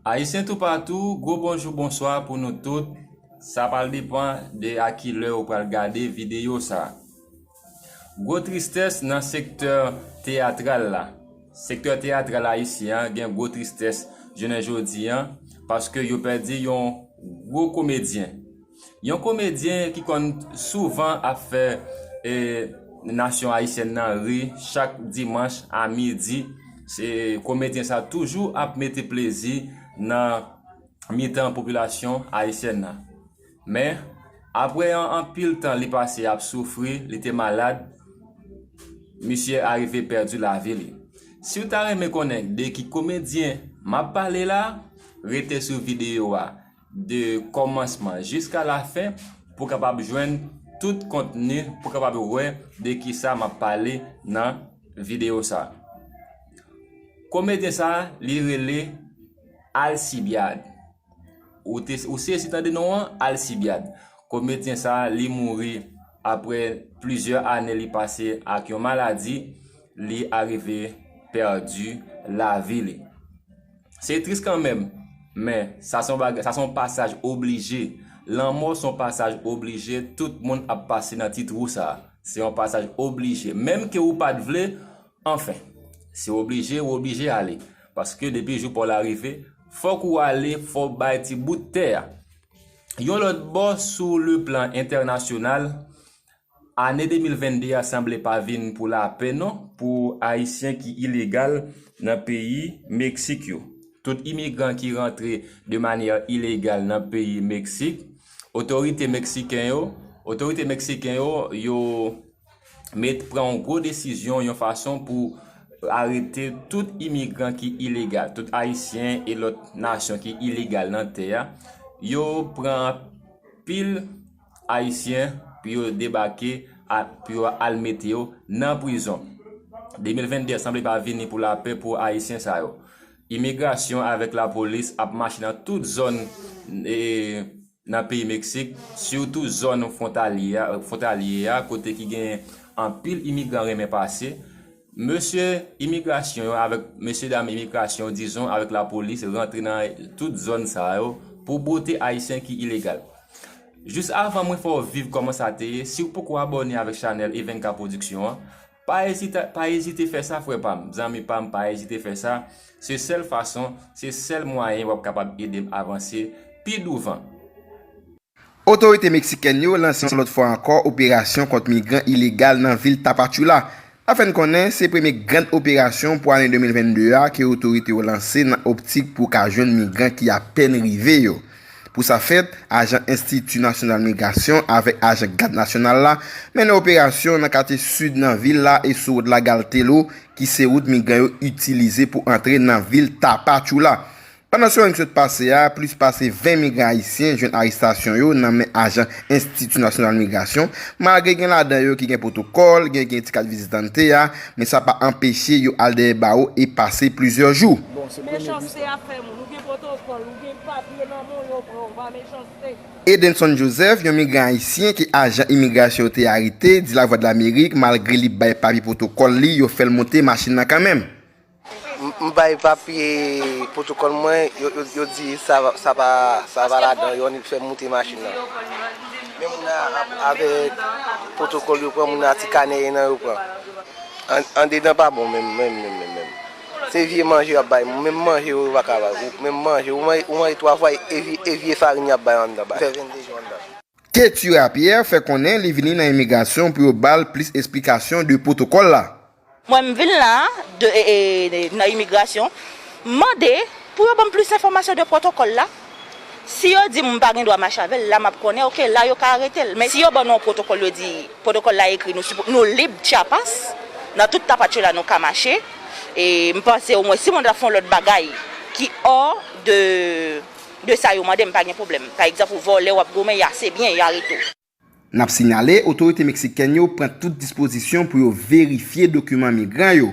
Ayisyen toupatou, gwo bonjou bonswa pou nou tout, sa pral depan de a ki lè ou pral gade videyo sa. Gwo tristès nan sektè teyatral la. Sektè teyatral ayisyen an gen gwo tristès jounen jodi an paske yo pèdi yon gwo komedyen. Yon komedyen ki konn souvan ap fè e nasyon ayisyèn nan ri chak dimanch a midi. Se komedyen sa toujou ap mete plezi nan mitan popilasyon ayisyèn nan. Men, apre yon anpil tan li pase ap soufri, li te malad, misye arive pèdi lavi li. Siw ta renmen konnen de ki komedyen map pale la, rete sou videyo a de kòmansman jiska lafen pou kapab jwenn tout kontni, pou kapab wè de kisa map pale nan videyo sa. Komedyen sa li rele Alcibiade. Ou sezi tande non an? Alcibiad. Komedyen sa a li mouri apre plizyè ane li pase ak yon maladi, li arive pèdi lavi li. Se tris kanmenm, men sa son bagay, sa son pasaj oblije. Lanmò son pasaj oblije, tout moun ap pase nan ti twou sa a. Se yon pasaj oblije. Menm ke ou pa t vle, Anfen, si w oblije, w oblije ale. Paske depi jou pa w la rive, fòk ou ale, fò w bay ti bout tè a. Yon lòt bò, sou le plan entènasyonal, ane 2022 a sanble pa vin pou lapè non pou Ayisyen ki ilegal nan peyi Meksik yo. Tout imigran ki rantre de manyè ilegal nan peyi Meksik, otorite Meksiken yo, otorite Meksiken yo, yo. met pran yon gwo desizyon yon fason pou arete tout imigran ki ilegal, tout ayisyen e lòt nasyon ki ilegal nan tè a, yo pran anpil ayisyen pou yo debake pou yo al mete yo nan prizon. 2022 sanble pa vini pou lapè pou ayisyen sa yo. Imigrasyon avèk lapolis ap mache nan tout zòn. nan peyi Meksik, sitou zòn fwontalye a kote ki genyen anpil imigran renmen pase, mesye imigrasyon yo avèk mesye dam imigrasyon dizon avèk lapolis rantre nan tout zòn sa yo pou bwote ayisyen ki ilegal. Jis avan mwen fè w viv kòman sa te ye, si w poko abòne avèk chanèl Evenka Production an, Pa ezite pa ezite fè sa frè pam, zanmi pam pa ezite fè sa, se sèl fason, se sèl mwayen wap kapab edem avanse pi douvan. Otorite meksikèn yo lanse yon lòt fwa ankò operasyon kont migran ilegal nan vil Tapachula. Nan fè n konnen se premye grand operasyon pou ane 2022 a ke otorite yo lanse nan optik pou ka jwenn migran ki apèn rive yo. Pou sa fèt, ajan Enstiti Nasyonal Migrasyon avèk ajan Gad Nasyonal la mennen operasyon nan katye sid nan vil la e sou wout Lagaltelou ki se wout migran yo itilize pou antre nan vil Tapachula. Pandan semèn ki sot pase a, plis pase 20 migran ayisyen jwenn arestasyon yo nan men ajan Enstiti Nasyonal Migrasyon, malgre gen ladan yo ki gen pwotokòl, gen ki gen ti kat vizitante a, men sa pa anpeche yo al dèyè bawo e pase plizyè jou. Bon, se premye bus la. Edenson Joseph, yon migran ayisyen ke ajan imigrasyon yo te arete, di Lavwadlamerik malgre li bay papye pwotokòl li, yo fè l monte machin nan kanmenm. M bay papye pwotokòl mwen, yo di sa pa ladan yo, yo fè m monte machin nan. Men moun nan avèk pwotokòl yo pran, moun nan ti kanè nan yo pran. Andedan pa bon menm menm menm. Se vye manje yap bay menm manje yo paka bay menm manje ou manje 3 fwa e vye farin yap bay anndan bay fè 22 jou anndan. Ketura Pierre fè konnen li vini nan imigrasyon pou yo ba l plis esplikasyon de pwotokòl la. Mwen m vin la nan imigrasyon mande pou yo ban m plis enfòmasyon de pwotokòl la. Si yo dim m pa gen dwa mache avèl la map konnen ok la yo ka aretel men si yo ban nou yon pwotokòl yo di pwotokòl la ekri nou sipo nou lib tyapas nan tout tapatchoula nou ka mache e m panse omwen si moun ta fon lòt bagay ki ò de de sa yo mande m pa gen pwoblèm pa egzanp ou vòlè wap goumen ya se byen ya aretew. N ap sinyale, otorite meksikèn yo pran tout dispozisyon pou yo verifye dokiman migran yo.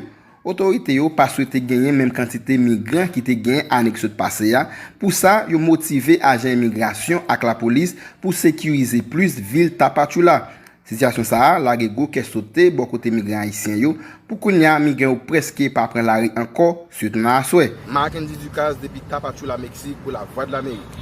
Otorite yo pa swete genyen menm kantite migran ki te genyen ane ki sot pase a, pou sa, yo motive ajan imigrasyon ak lapolis pou sekirize plis vil Tapachula. Sitiyasyon sa a lage gwo kè sote bò kote migran ayisyen yo Pou kounya amiga yo preske pa pran lari anko sitou nan aswè. Marckendy Ducasse depi Tapachula Mexique pou Lavwadlamerik.